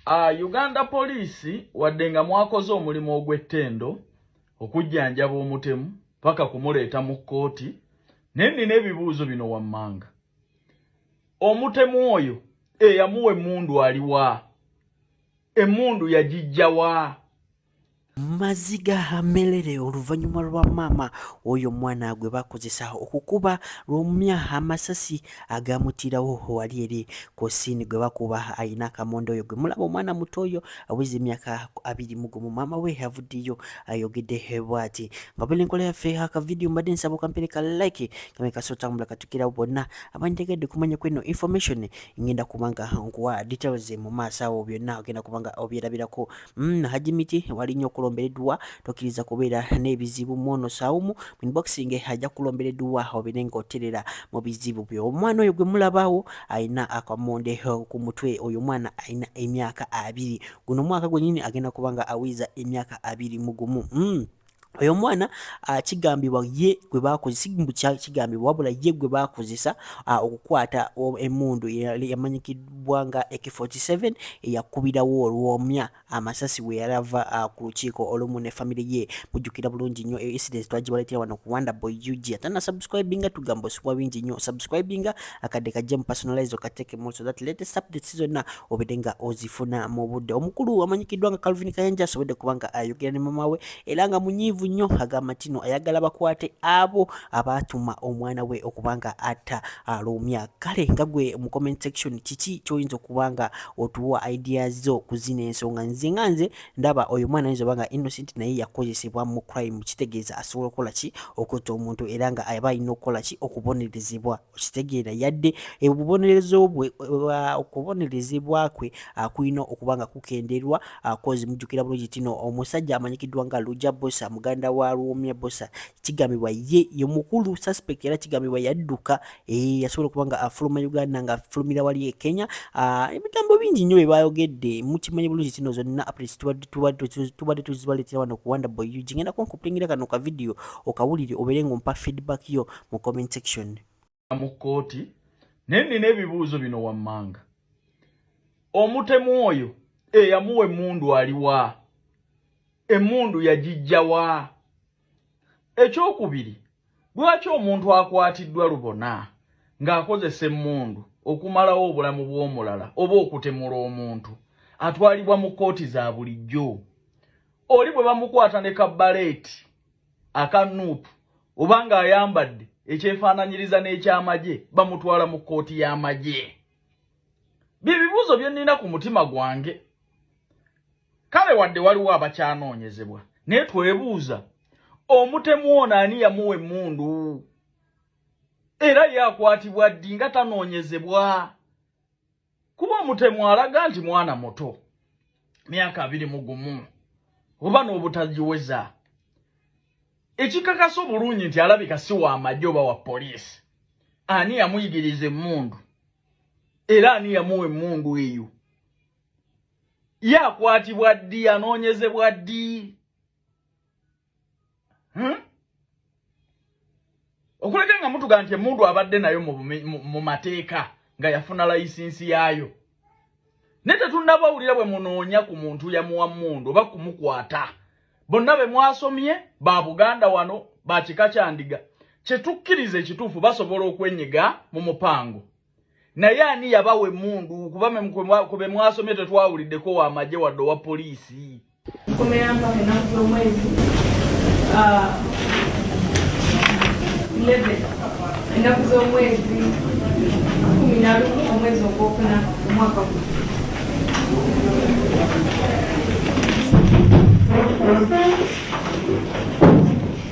Uh, Uganda poliisi wadde nga mwakoze omulimu ogw'ettendo okujjanjaba omutemu paka kumuleeta mu kkooti naye nina ebibuuzo bino wammanga omutemu oyo eyamuwa emmundu aliwa emmundu yagijjawa maziga hamelere oluvannyuma lwa maama oyo omwana gwe bakozesa okukuba lwomumya amasasi agamutirawo wali eri ku siini gwe bakuba alina akamonda oyo gwe mulaba omwana muto oyo aweza emyaka abiri mu gumu maama we avuddeyo ayogedde bwati nga buli enkola yaffe akavidiyo mbadde nsaba okampere ka like kame kasootambula katukirawo bonna abanjagadde kumanya kweno information ngenda kubanga nkuwa details mu maaso awo byonna ogenda kubanga obyerabirako Mm, Haji Miti wali nnyo okulombera edduwa tokkiriza kubeera n'ebizibu mwono sawumu min boxing ajja kulombera edduwa obeere ng'oterera mu bizibu byo omwana oyo gwe mulabaawo alina akamonde ku mutwe oyo omwana alina emyaka abiri guno omwaka gwenyini agenda kuba nga awiiza emyaka abiri mugumu mm. oyo omwana ah, kigambibwa ye gwe bakozesa mbu kigambibwa wabula ye gwe bakozesa ah, okukwata emundu yamanyikiddwa nga ak47 eyakubirawo olwomya amasasi we yali ava ah, ku lukiiko olumu ne famiry ye mujjukira bulungi nnyo e, incident twagibaletera wano ku wanda boy ug atana subscribinga tugamba osubwa bingi nnyo subscribinga akadde kajja mu personalize okatekemu so that latest updates zonna obedde nga ozifuna mu budde omukulu amanyikiddwa nga calvin kayanja asobodde kuba nga ayogera ne mama we era nga munyiivu nnyo agamba ntino ayagala bakwate abo abaatuma omwana we okuba nga atta alumya kale nga gwe mu comment section kiki kyoyinza okuba nga otuwa idea zo ku zino ensonga nze nga nze ndaba oyo mwana ayinza oba nga innocent naye yakozesebwa mu crime kitegeeza asobola okukola ki okutta omuntu era nga aba alina okukola ki okubonerezebwa okitegeera yadde obubonerezo bwe okubonerezebwa kwe kulina okuba nga kukenderwa kozi mujjukira bulungi tino omusajja amanyikiddwa nga luja bosa muganda wa luwomya bosa kigambibwa ye ye mukulu suspect era kigambibwa yadduka eh, yasobola okuba nga afuluma uganda nga afulumira wali e kenya ebigambo bingi nnyo byebayogedde mukimanyi bulungi tino zonna tubadde tuzibaletera wano kuwanda boyug ngenda konkupulingira kano kavidiyo okawulire obeere ngaompa feedback yo mu comment section mu kkooti naye nina ebibuuzo bino wammanga omutemu oyo eyamuwa emmundu aliwa emmundu yagijjawa ekyokubiri lwaki omuntu akwatiddwa lubona ng'akozesa emmundu okumalawo obulamu bw'omulala oba okutemula omuntu atwalibwa mu kkooti za bulijjo oli bwe bamukwata ne kabbaleeti aka nup oba nga ayambadde ekyefaananyiriza n'ekyamagye bamutwala mu kkooti y'amagye bye bibuuzo bye nnina ku mutima gwange kale wadde waliwo abakyanoonyezebwa naye twebuuza omutemu ono ani yamuwa emmundu era yakwatibwa ddi nga tanoonyezebwa kuba omutemu alaga nti mwana muto myaka abiri mu gumu oba n'obutagiweza ekikakasa obulungi nti alabika si wa amagye oba wa poliisi ani yamuyigiriza emmundu era ani yamuwa emmundu eyo ye akwatibwa ddi anoonyezebwa ddi hmm? okuleka nga mutuga nti emundu abadde nayo mu mateeka nga yafuna layisinsi yaayo naye tetunnabawulira bwe munoonya ku muntu yamuwa mundu oba kumukwata bonna be mwasomye ba buganda wano ba kika kyandiga kye tukkiriza ekituufu basobola okwenyiga mu mupango naye ani yabawa emundu kuba kube mwasomye tetwawuliddeko wamaje wadde owa poliisi ah, ennaku z'omwezi kumi nalumu omwezi ogwokuna omwaka gu Thank you.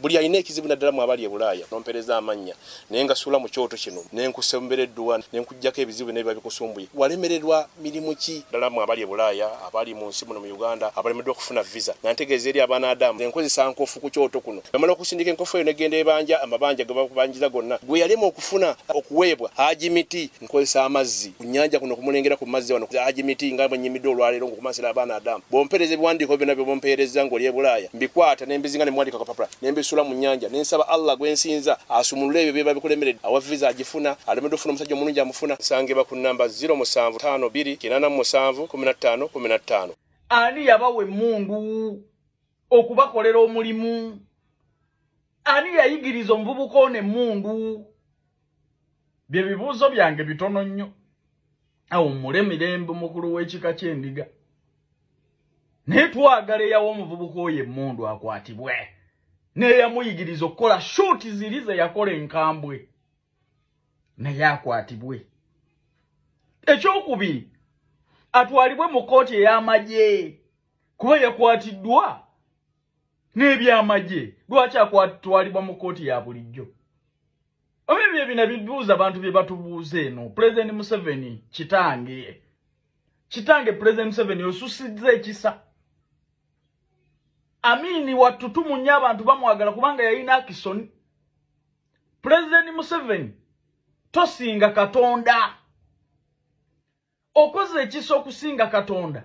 buli alina ekizibu naddala mu abali e bulaaya nompereza amannya naye nga suula mu kyoto kino ne nkusembera edduwa ne nkuggyako ebizibu byonna biba bikusumbuye walemererwa mirimu ki ddala mu abali e bulaaya abali mu nsi muno mu uganda abalemeddwa okufuna visa nga ntegeeza eri abaana adamu ne nkozesa nkofu ku kyoto kuno namala okusindika enkofu eyo negenda ebanja amabanja ge bakubanjiza gonna gwe yalema okufuna okuweebwa haji miti nkozesa amazzi ku nnyanja kuno kumulengera ku mazzi wano Haji Miti nga bwe nnyimidde olwaleero ng'okumansira abaana Adamu bw'ompeereza ebiwandiiko byonna by'omumpeerezza ng'oli e Bulaaya mbikwata ne mbizinga ne muwandiika akapapula ne mbisuula mu nnyanja ne nsaba Allah gwe nsinza asumulule ebyo byeba bikulemeredde awa viza agifuna alemeddwa okufuna omusajja omulungi amufuna nsangibwa ku nnamba 0 musanvu ttaano bbiri kinaana mu musanvu kumi na ttaano kumi na ttaano ani yabawa emmundu okubakolera omulimu ani yayigiriza omuvubuka ono emmundu byebibuuzo byange bitono nnyo awummule mirembe mukulu w'ekika ky'endiga naye twagala eyawa omuvubuka oyo emmundu akwatibwe neyamuyigiriza okukola shuuti ziri ze yakola enkambwe naye akwatibwe ekyokubiri atwalibwe mu kooti ey'amagye kuba yakwatiddwa n'ebyamagye lwaki akwatwalibwa mu kkooti ya bulijjo oba ebyo ebina bibuuza abantu bye batubuuza eno pulezidenti museveni kitange kitange pulezidenti museveni osusizza ekisa amiini wattu tumunya abantu bamwagala kubanga yalina akisoni pulezidenti museveni tosinga katonda okoze ekisa okusinga katonda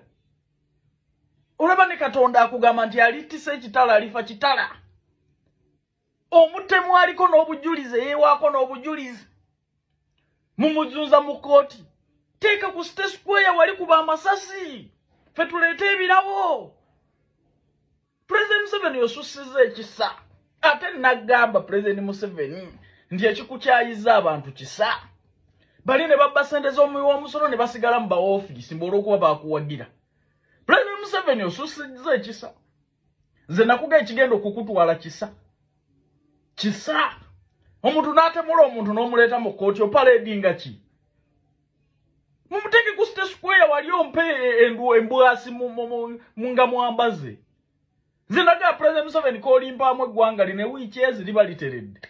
olaba ne katonda akugamba nti alittisa ekitala alifa kitala omutemu aliko n'obujulizi eyewaako n'obujulizi mumuzunza mu kooti teeka ku site square wali kuba amasasi fe tuleete ebirabo president museveni osusiza ekisa ate nagamba president museveni nti ekikukyayiza abantu kisa bali ne babba sente z'omuwi w'omusolo ne basigala mu baofiisi mbu olw'okuba baakuwagira president museveni osusiza ekisa nze nakuga ekigenda okukutwala kisa kisa omuntu n'atemula omuntu n'omuleeta mu kkooti opaledinga ki mumuteke ku state square wali ompe endu embwasi nga mwambaze zinaga president museveni kolimpaamu eggwanga line wiiki ezi liba literedde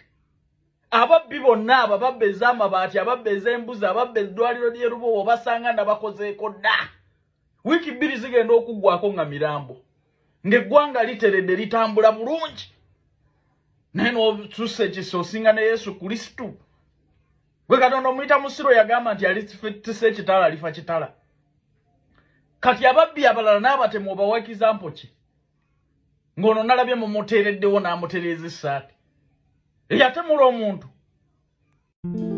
ababbi bonna abo ababba ez'amabaati ababba ez'embuzi ababba eddwaliro ly'erubowa obasanga nabakozeeko dda wiiki bbiri zigenda okuggwako nga mirambo ng'eggwanga literedde litambula bulungi naye n'osusa ekisa osinga ne yesu kristo gwe katonda omuyita musiru yagamba nti alitisa ekitala alifa kitala kati ababbi abalala n'abatemu obawakiza mpoki ng'ono nalabye mumuteereddewo n'amutereeza essaati eyatemula omuntu mm -hmm.